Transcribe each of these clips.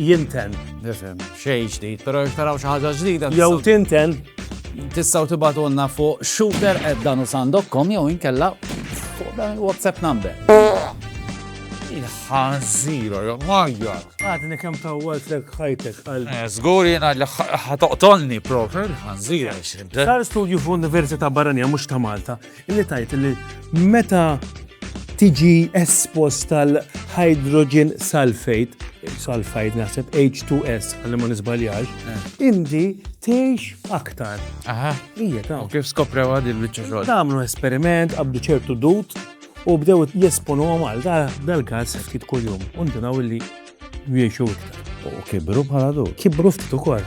Jinten. Nifhem, xejn ġdid, però jekk taraw xi ħaġa ġdida. Jew tinten. Tistgħu tibatulna fuq shooter at danusan.com jew inkella fuq dan il-WhatsApp number. Il-ħanżira, jew majjar. Għadni kemm tawwalt lek ħajtek għal. Eh, Żgur jiena li ħatoqtolni propri il-ħanżira. Sar studju f'università barranija mhux ta' Malta Illi tajt li meta tiġi espost tal-hydrogen sulfate, sulfide naħseb H2S għalli ma nisbaljax, eh. indi tgħix aktar. Aha. Ija ta' kif skopra għad il-biċċa xogħol. Tagħmlu esperiment qabdu ċertu dut u bdew jesponu għal dal-każ ftit kuljum. Undu naw li jgħixu iktar. U kibru bħala dut. Kibru ftit ukoll.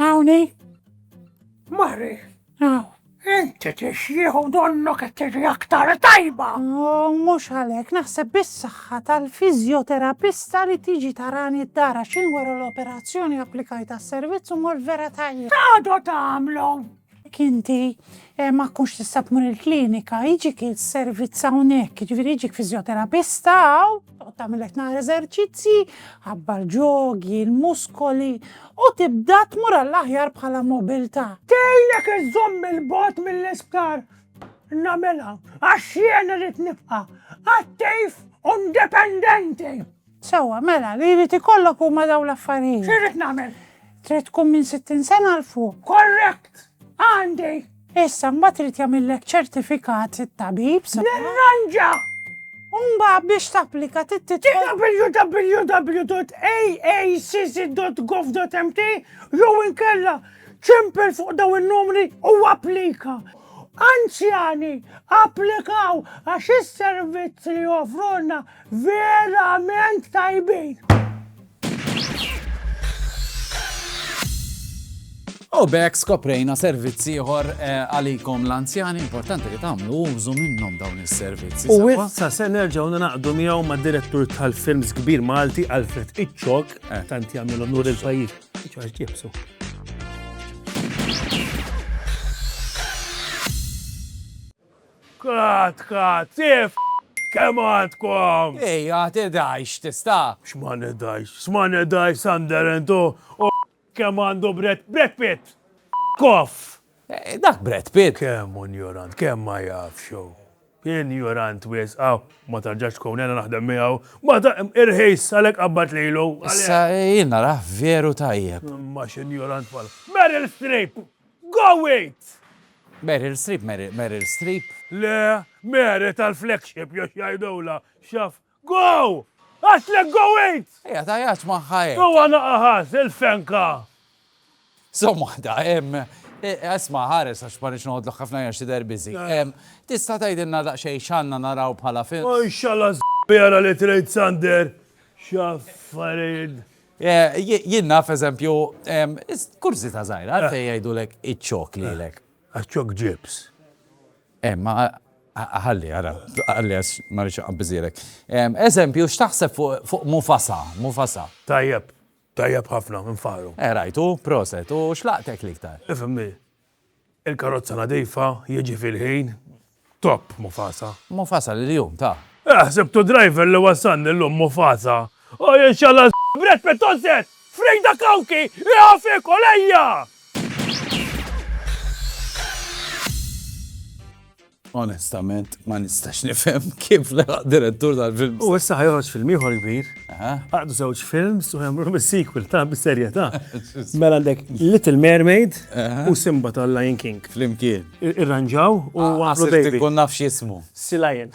Hawn hi? Mari. Hawn. Inti tixjieħu donnu qed tiġi aktar tajba. Oh, mhux għalhekk, naħseb bis-saħħa tal-fiżjoterapista li tiġi tarani d-dara x'in wara l-operazzjoni applikajt għas-servizz u mor vera tajjeb. Għadu tagħmlu! Jekk inti ma tkunx tista' tmur il-klinika, jiġik is-servizz hawnhekk, jiġifieri jiġik fiżjoterapista hawn, toqgħod tagħmilek naqra eżerċizzji, ħabbar ġogi, il-muskoli, u tibda tmur għall-aħjar bħala mobilità. Tgħinek iżżomm 'il bogħod mill-isptar. Nagħmilha għax jien irrid nibqa' attiv u indipendenti. Sewwa, mela, li jrid ikollok huma dawn l-affarijiet. X'irrid nagħmel? Trid tkun minn sittin sena 'l fuq. Korrekt! Għandi! Issa, mbagħad irid jagħmillek ċertifikat it-tabib sabiex. Nirranġa! U mbagħad biex tapplika trid tidħol. www.aacc.gov.mt jew inkella ċempel fuq dawn in-numri u applika. Anzjani, applikaw għax is-servizz li joffrulna Verament tajbin! U bek skoprejna servizzi ieħor eh, għalikom l-anzjani importanti li tagħmlu użu minnhom dawn is-servizzi. U issa se nerġgħu naqdu miegħu ma' direttur tal-films kbir Malti Alfred Iċċok eh. tant jagħmel onur il-pajjiż. Iċċok ġibsu. Cut cut Tiff kemm għandkom! Ej a tidhajx tista'. X'ma nidhajx? X'ma nidhajx Sunderland hu u kemm għandu Brad Brad Pitt! Koff! Dak Brad Pitt! Kemm hu njurant, kemm ma jafx hu. Hi njurant wisq hawn. Ma tarġax tkun hena naħdem miegħu. Ma ta irħis għalhekk qabbad lilu. Issa jien narah veru tajjeb. Imma x'injurant bħal Meryl Streep! Go it! Meryl Streep, Meryl Streep. Le, Mary tal-flagship jew x'jgħidulha, xaf. Go! Għatlek go it! Ejja tajat magħha hekk. Huwa naqaħas il-fenka. Somma waħda, hemm Esma ħares għax ma rix noqgħodlok ħafna għax tidher biżi. Tista' tgħidilna daqsxejn x'għandna naraw bħala film? Inshallah żbjara li trid Sander. X'affarijiet Jien naf, eżempju, kurżità żgħira, għalfejn jgħidulek iċ-ċok lilek? Għax-ċok ġibs. Imma ħalli, ara, ħalli għax ma rridx inqabbiżhielek. Eżempju, x'taħseb fuq Mufasa? Mufasa. Tajjeb, tajjeb ħafna, infaħħru. Eh, rajtu, proset, u x'laqtek l-iktar? Ifhimni, Il-karozza nadifa, jiġi fil-ħin, top Mufasa. Mufasa li l-jum ta. Eh, sibtu driver li wassalni llum Mufasa. O jien xalla Brett Pitt ożżed! Frida Kawki! Iha fik u lejja! Onestament ma nistax nifhem kif laħaq direttur tal-films. U issa ħa joħroġ film ieħor kbir. Għaqdu żewġ films u jagħmluhom is-sequel ta' bis-serjetà. Mela għandek Little Mermaid u Simba tal-Lion King. Flimkien. Irranġaw u għamlu baby. Ħsibt inkun naf x'jismu. Sea Lion.